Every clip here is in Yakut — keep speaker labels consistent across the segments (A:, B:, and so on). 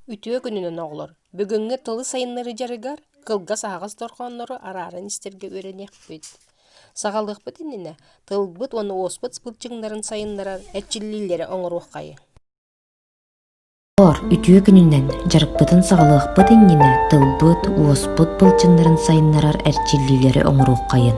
A: Үтүө күнүнэн оҕолор! Бүгүҥҥү тылы сайыннарыы дьарыгар кылгас аһаҕас дорҕооннору арааран истэргэ үөрэниэхпит. Саҕалыахпыт иннинэ тылбыт уонна уоспут былчыҥнарын сайыннарар эрчиллиилэри оҥоруоххайы. Үтүө күнүнэн дьарыкпытын саҕалыахпыт иннинэ тылбыт, уоспут былчыҥнарын сайыннарар эрчиллиилэри оҥоруоххайын.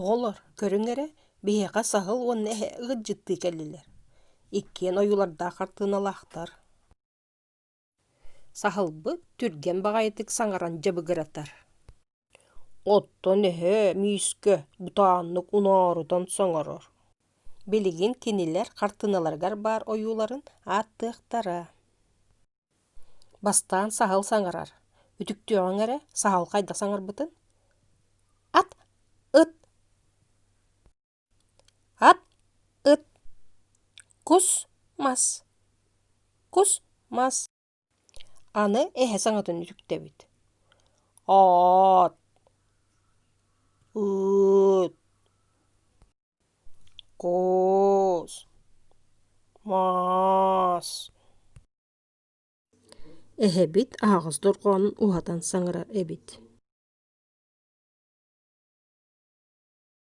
A: Оҕолор, көрүҥ эрэ, биһиэхэ саһыл уонна эһэ ыалдьыттыы кэллилэр. Иккиэн ойуулардаах хартыыналаахтар Саһылбыт түргэн баҕайытык саҥаран дьабыгыратар. Оттон эһээ Миискэ бутааннык уноорутан соҥорор. Билигин кинилэр хартыыналарыгар баар ойууларын ааттыахтара Бастаан саһыл саҥарар. Үтүктүөҕүҥ эрэ саһыл хайдах саҥарбытын? Ат! Ыт! Ат ыт кус мас кус мас аны эһэ саҥатын үтүктэбит оот ыыт куус маас эһэбит аһаҕас дорҕоонун уһатан саҥарар эбит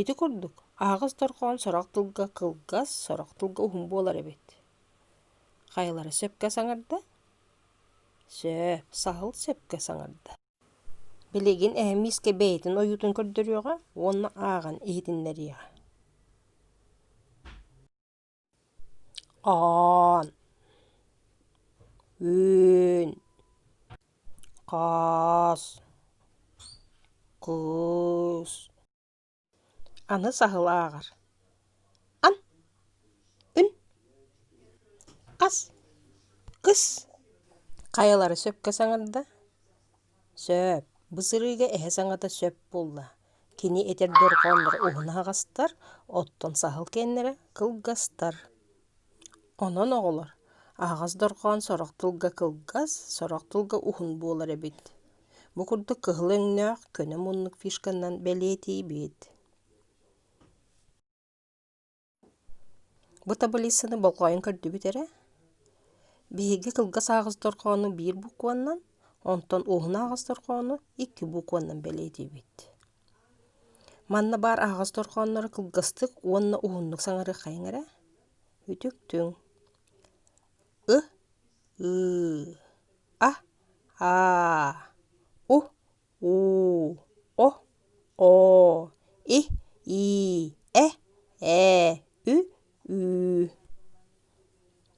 A: Ити курдук, аһаҕас дорҕоон сорох тылга кылгас, сорох тылга уһун буолар эбит. Хайалара сөпкө саҥарда? Сөп, саһыл сөпкө саҥарда. Билигин эһэм миискэ бэйэтин ойуутун көрдөрүөҕэ уонна ааҕан иһитиннэриэҕэ. оон үөн хаас куус аны саһыл ааҕар ан үн хас кыс хайалара сөпкө саҥарда Сөп. Бу сырыыга эһэ саҥата сөп буолла. Кини этэр дорҕоонноро уһун аһаҕастар, оттон саһыл киэннэрэ кылгастар. Онон оҕолор, аһаҕас дорҕоон сорох тылга кылгас, сорох тылга уһун буолар эбит. Бу курдук кыһыл өҥнөөх, көнө муннук фишканан бэлиэтиибит. Бу табылиыссаны болҕойон көрдүгүт эрэ, биһиги кылгас аҕыс дорҕоону биир букваннан, онтон уоһун аҕыс дорҕоону икки букваннан бэлиэтиибит. Манна баар аһаҕас дорҕооннору кылгастык уонна уһуннук саҥарыаххайыҥ эрэ. Үтүктүҥ. Ы, ыы, а, аа, у, уу о оо и ии э ээ ү ү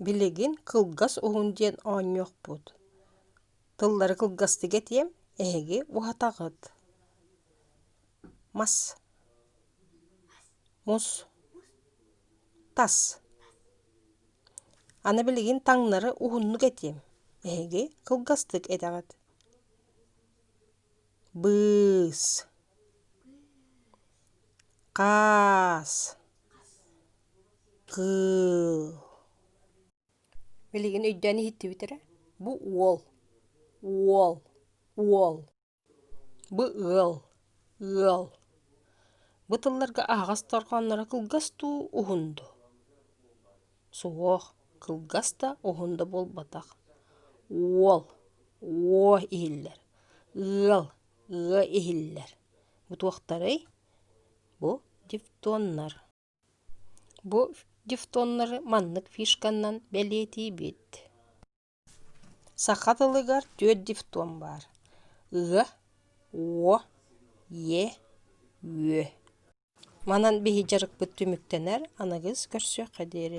A: билигин кылгас уһун диэн оонньуохпут тыллары кылгастык этиэм эһиги уһатаҕыт мас мус тас аны билигин таҥнары уһуннук этиэм эһиги кылгастык этэҕит быыс хаас кыыл билигин өйдөөн иһиттибит эрэ бу уол уол уол бу ыал ыал бу тылларга аһаҕас дорҕоонноро кылгас дуу уһун дуу Суох, кылгас да, уһун да буолбатах. Уол, уо иһиллэр. Ыал, ыа иһиллэр. Бу туохтарый? Бу дифтоннар. Бу дифтоннары маннык фишканан бэлиэтиибит. Саха тылыгар түөрт дифтон баар. Ы, уо, е, үө. Манан биһи дьарыкпыт түмүктэнэр, аныгыс көрсүөххэ диэри.